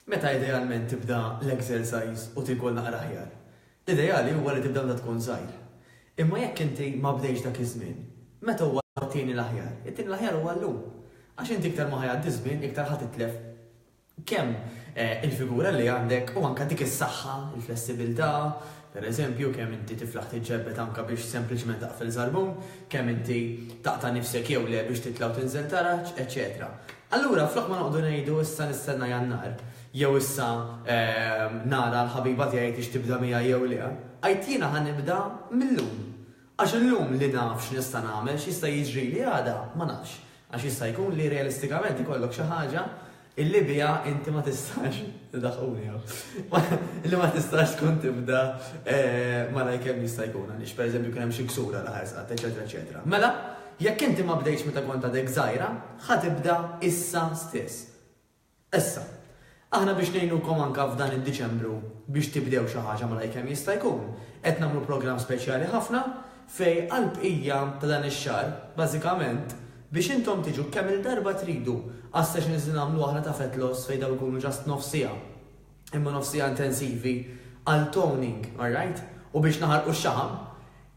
Meta idealment tibda l-exercise u tiekol naqra aħjar? L-ideali huwa li tibda meta tkun żgħir. Imma jekk inti ma bdejtx dak iż-żmien, meta huwa t-tieni l-aħjar? It-tieni l-aħjar huwa llum. Għax inti iktar ma ħa jgħaddi ż-żmien iktar ħa titlef kemm il-figura li għandek u anke dik is-saħħa, il-flessibilità, per eżempju, kemm inti tiflaħ tiġġerbed anke biex sempliċement taqfel żarbun, kemm inti taqta' nifsek jew le biex titla' u tinżel taraġ, eċċetera. Allura, flok ma noqogħdu ngħidu issa nistenna Jannar, jew issa nara l-ħabiba tiegħi jekk hix tibda miegħi jew le, għidt jiena ħa nibda mil-lum. Għax illum li naf x'nista' nagħmel, x'jista' jiġrili għada ma nafx. Għax jista' jkun li realistikament ikollok xi ħaġa illi biha inti ma tistax, idaħquni hawn, illi ma tistax tkun tibda malajr kemm jista' jkun għaliex pereżempju kien hemm xi ksur għal ħarsat, eċetera eċetera. Mela, Jekk inti ma bdejtx meta kont għadek żgħira, ħa tibda issa stess. Issa, aħna biex ngħinukom anke f'dan id-Diċembru biex tibdew xi ħaġa malajr kemm jista' jkun, qed nagħmlu programm speċjali ħafna fejn għall-bqija ta' dan ix-xahar, bażikament, biex intom tiġu kemm-il darba tridu għas-sessions li nagħmlu aħna ta' fat loss fejn dawn ikunu just nofs siegħa, imma nofs siegħa intensivi għal toning, alright? U biex naħarqu x-xaħam.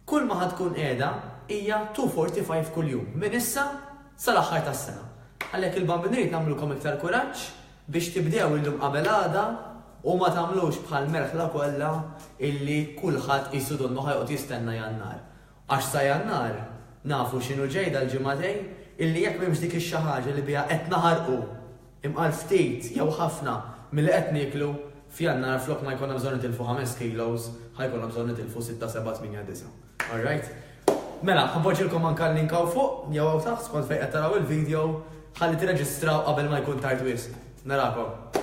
Kulma ħa tkun qiegħda hija 2:45 kuljum minn issa sal-aħħar tas-sena. Għalhekk il-Bambini rrid nagħmlulkom iktar kuraġġ biex tibdew illum qabel għada u ma tagħmlux bħall-merħla kollha illi kulħadd qisu donnu ħa joqgħod jistenna Jannar. Għax sa Jannar nafu x'inhu ġej dal-ġimagħtejn illi jekk m'hemmx dik ix-xi ħaġa li biha qed naħarqu Imqar ftit jew ħafna milli qed nieklu, f'Jannar flok ma jkollna bżonn nitilfu ħames kilos, ħa jkollna bżonn nitilfu sitta, sebgħa, tmienja, disgħa. All right? Mela, ħa npoġġilkom anke l-link hawn fuq jew hawn taħt skont fejn qed taraw il-video ħalli tirreġistraw qabel ma jkun tard wisq. Narakom!